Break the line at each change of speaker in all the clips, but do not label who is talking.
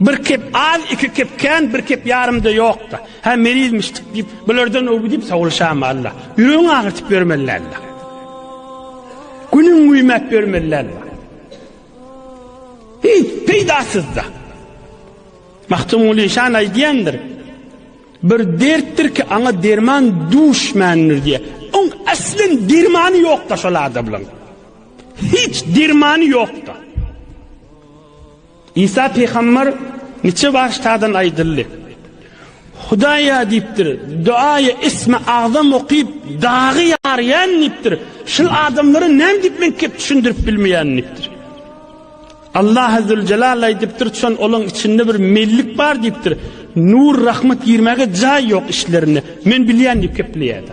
Bir kep az, iki kep kän, bir kep ýarym-da ýok-da. Hä, merizmişdik diýip, bulardan öwgi diýip sowulşamy, Alla? Ýüregiňi agyrtyp ýörmeli, Alla. Günüňi güýmäp ýörmeli, Alla. Hiç peýdasyz-da. Magtymguly şan aýdýandyr. Bir dertdir ki, aňa derman duşmändir diýe. Oň aslen dermany ýok-da şol adamlaryň. Hiç dermany ýok-da. Isa pygamber niçe baştadan aýdyldy. Hudaýa diýipdir, duaýy ismi agzam okyp, dagy ýarýan diýipdir. Şul adamlara näme diýip men kep düşündirip bilmeýän diýipdir. Allah azze celal aýdypdyr, çon olaň içinde bir mellik bar diýipdir. Nur rahmat girmäge jaý ýok işlerinde. Men bilýän diýip gepleýärdi.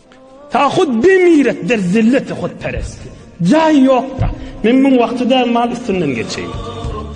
Ta hut demiret der zillete hutperest. Jaý ýokda. Men muň wagtyda mal üstünden geçeýin.